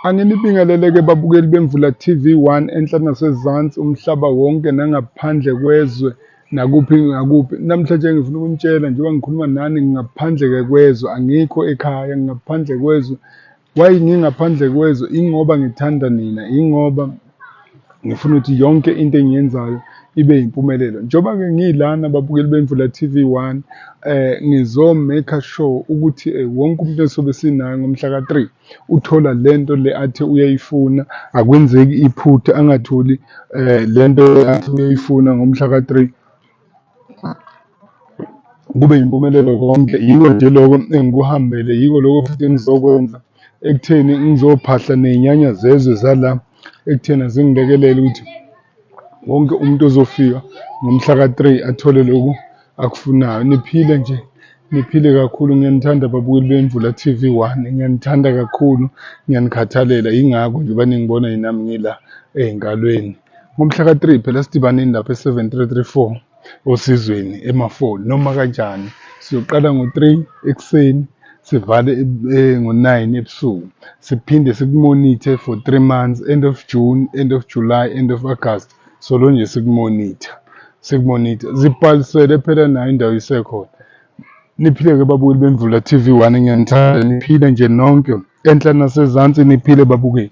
Anginibingelele-ke babukeli beMvula TV One enhla nasezansi umhlaba wonke nangaphandle kwezwe nakuphi nakuphi. Namhlanje ngifuna ukunitshela njengoba ngikhuluma nani ngingaphandle-ke kwezwe angikho ekhaya ngingaphandle kwezwe. Why ngingaphandle kwezwe? Ingoba ngithanda nina, ingoba Ngifuna ukuthi yonke into engiyenzayo ibe yimpumelelo. Njengoba-ke ngiyilana babukeli bemvula TV one eh ngizo-make sure ukuthi eh, wonke umuntu esobe sinaye ngomhla ka-three uthola le nto le athi uyayifuna akwenzeki iphutha angatholi um le nto athi uyayifuna ngomhla ka-three kube yimpumelelo konke yiko nje loko engikuhambele yiko loko futhi engizokwenza ekutheni ngizophahla ney'nyanya zezwe zala ekuthena zingilekelele ukuthi wonke umuntu ozofika ngomhla ka-three athole loku akufunayo niphile nje niphile kakhulu ngiyanithanda babukeli bemvula t v one ngiyanithanda kakhulu ngiyanikhathalela yingakho nje baningibona yinami ngila ey'nkalweni Ngomhla ka-3 phela sidibaneni lapha e-7334 osizweni emafoli noma kanjani siyoqala ngo-3 ekuseni sivale eh, ngo-9 ebusuku siphinde sikumonithe for 3 months end of june end of july end of august solo nje sikumonitha sikumonitha zibhalisele phela nayo indawo isekhona niphile-ke babukeli bemvula tv one ngiyanithanda niphile nje nonke enhla nasezansi niphile babukeli